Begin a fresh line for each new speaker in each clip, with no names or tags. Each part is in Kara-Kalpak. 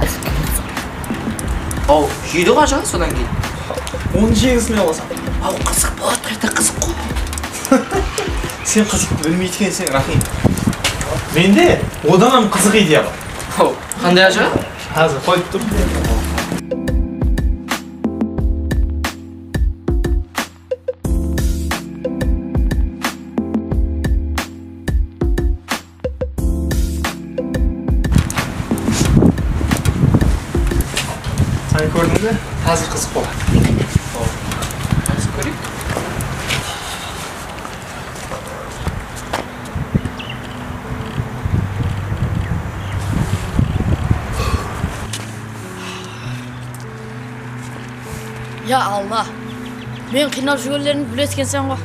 Aytıp keliedi soǵay Hau jeydi ǵo ajaǵa sodan keyin Onı jegisine qosa Hau qızıq boladı qayta qızıq qo Sen qızıqtı bilmeytukensiń Raxim Mende odanam qızıq ideya bar Hau qanday ajaǵa Xázir qoyıp tur Qani kórdiń be? Házir qızıq boladı. Házir kóreyik. Ya Alla! Meni qıynap júbergenimdi biledi ekensen ǵo.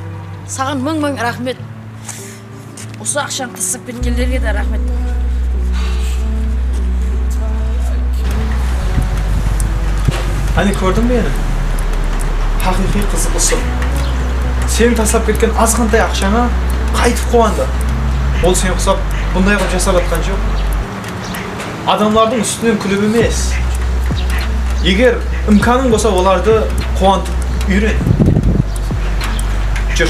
Saǵan mıń-mıń raxmet. Usı aqshanı qızıqsıp ketkenlerge de raxmet. Qáne kórdiń be endi haqıyqıy qızı usı. Seniń taslap ketken azǵantay aqshańa qaytıp quwandı. Ol seni qusap bunday qılıp jasap atqan joq. Adamlardıń ústinen kúlip emes, eger imkanıń bolsa olardı quwantıp úyren. Júr.